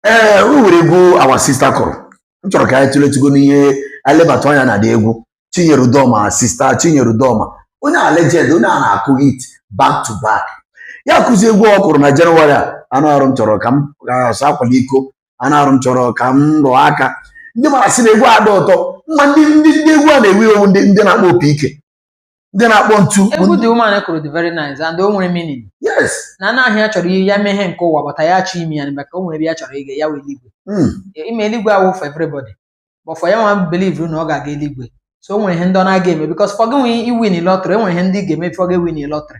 ee o nwere egwu our sista kụrụ m chọrọ ka anyị tụletụgo n'ihe anyị lebata anya na the egwu chinyere udoma sista chinyere udoma onye a legend onye a na-akụ hit back to back ya kụzi egwu ọ kụrụ na jenụwarị a anụ arụ m chọrọ ka m ga-asa akwala iko anụ arụ m chọrọ ka m rụọ aka ndị mara sị na egwu a dị ụtọ ma ndị ndị ndị egwu a na-ewu ewu ndị ndị na-akpọ opi ike ndị na-akpọ ntu bụ egwu ndị- the woman kụrụ dị very nice and o nwere meaning yes na anụ ahụ ya chọrọ ihe ya mee ihe nke ụwa but ya achọọ ime ya na maka o nwere ebe ya chọrọ ịga ya wụ eluigwe Mm. ị ma eluigwe awụ for everybody but for ya nwa believe na ọ ga-aga eluigwe so o nwere ihe ndị ọ na-aga eme because for gị nwee iwin lottery enwere ihe ndị ị ga-eme for gị win lottery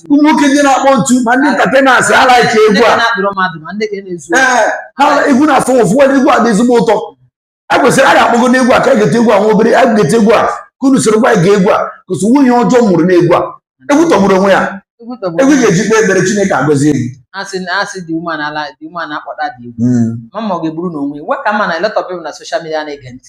ụmụ nwoke ndị na-akpọ ntu ma ndị entertainers ha like egwu a ee ha egwu na-afụ ụfụ nwere egwu a dị ezigbo ụtọ a kwesịrị a ga-akpọgo n'egwu a ka a ga-ete egwu a nwa obere a ga-ete egwu a ka unu soro gwa anyị ga egwu a kụsị nwunye ọjọọ mụrụ n'egwu a egwu tọgburu onwe ya egwu ga-eji kpee ekpere chineke agọzie egwu asị na asị the woman the woman akpọta the egwu mama ọ ga-eburu n'onwe ya. Weka ma na a lot of people na social media na-ege ntị